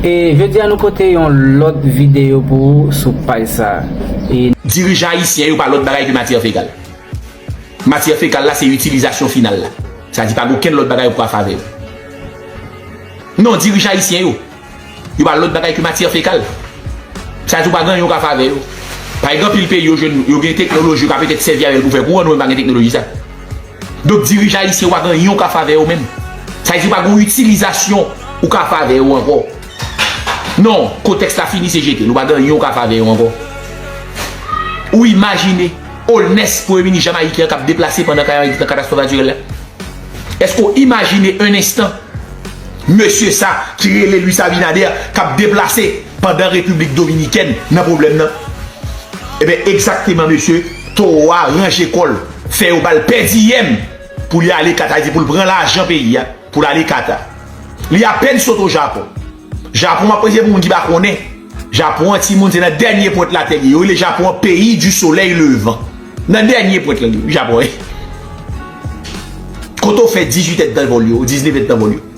E jodi a nou pote yon lòt videyo pou ou sou paj sa e. Dirijan ayisyen yo pa lòt bagay ke matyè fekal. Matyè fekal la se itilizasyon final la. Sa di pa gen okenn lòt bagay yo pka fè avè yo. Non, dirijan ayisyen yo, yo pa lòt bagay ke matyè fekal. Sa di ou pa gen anyen ou ka fè avè yo. Page anpil peyi yo jwenn, yo gen teknoloji yo ka petèt sèvi avè l pou fè kouran, nou menm pa gen teknoloji sa. Donk dirijan ayisyen yo pa gen anyen yo ka fè avè yo menm? Sa vle di pa gen yon itilizasyon ou ka fè avè yo ankò? Non, kotèks la fini se jete l, ou pa gen anyen ou ka fè avè yo ankò. Ou imajine Holness, premye minis jamayiken an k ap deplase pandan ka yon katastwòf natirèl la? Èske w imajine 1 enstan mesye sa ki rele Luis Abinader k ap deplase? Pandan Repiblik Dominikèn nan pwoblèm nan, eben egzakteman mesye towo a ranje kò l, fè yo ba l pèdiyèm pou li ale Kata, sa vle di pou l pran lajan peyi a pou l ale Kata. Li apèn sot o Japon. Japon, m ap prese pou moun ki pa konnen, Japon an timoun se nan dènye pwent latè l ye. Yo rele Japon an peyi di solèy levan. Nan dènye pwent la l ye wi Japon an. Kote w fè dizuit èdtan vòl yo, diznef èdtan vòl yo.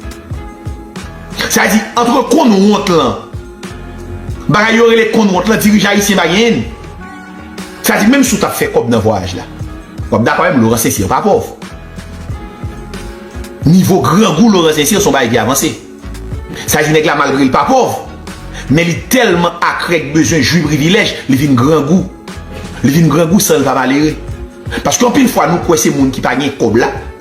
Sa di antre konn wont lan. Bagay yo rele konn wont lan dirijan ayisyen pa genyen li. Sa di menm si w tap fè kòb nan vwayaj la. W ap dakò avè m Laurent St-Cyr pa pòv. Nivo grangou Laurent St-Cyr son bagay ki avanse. Sa di nèg la malgre li pa pòv men li tèlman akrèk bezwen jwi privilèj li vin grangou. Li vin grangou san li pa malere. Paske anpil fwa nou kwè se moun ki pa gen kòb la.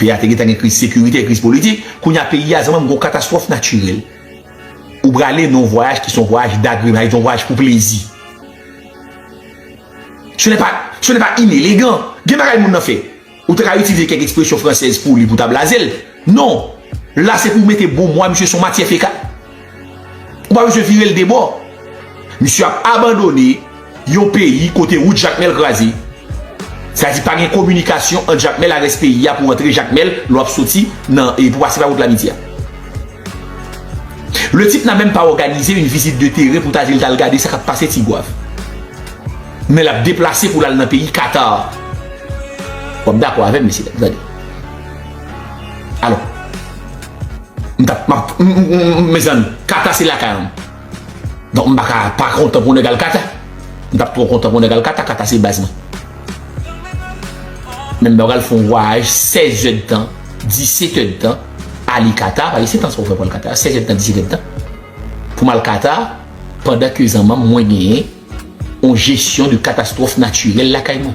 Peyi a te gentan gen kriz sekirite, kriz politik, kounye a peyi a zanmanm gen yon katastwòf natirèl. Ou prale nan yon vwayaj ki se yon vwayaj dagreman, yon vwayaj pou plezi. Se nè pa, se nè pa inelegan. Gen bagay moun nan fè, ou ta ka itilize kèk ekspresyon fransèz pou li pou ta blaze l. Non! La se pou w mete bon mwa misye se yon matyè feka. Ou pa bezwen vire l de bò. Misye ap abandone yon peyi kote wout Jakmèl kraze. Sa di pa gen kominikasyon ant Jakmèl a rès peyi a pou antre Jakmèl lè w ap soti nan e pou pase pa wout Lamidi a. Le type n'a menm pa òganize yn vizit de teren pou ta di l t al gade sa k ap pase Tigwav. Men l ap deplase pou l al nan peyi Katar. W ap dakò avè m mesye dam, gade. Alò. M tap map mezanmi kata se lakay an donk m paka pa kontan pou nèg al kata m tap twò kontan pou nèg al kata kata se baz mwen menm lè w al fè yon vwayaj 16 zè de tan 17 è de tan ale kata paske se tan sa w fè pou al kata 16 è de tan 17 è de tan pou m al kata pandan ke zanmanm mwen genyen yon jesyon de katastwòf natirèl lakay mwen.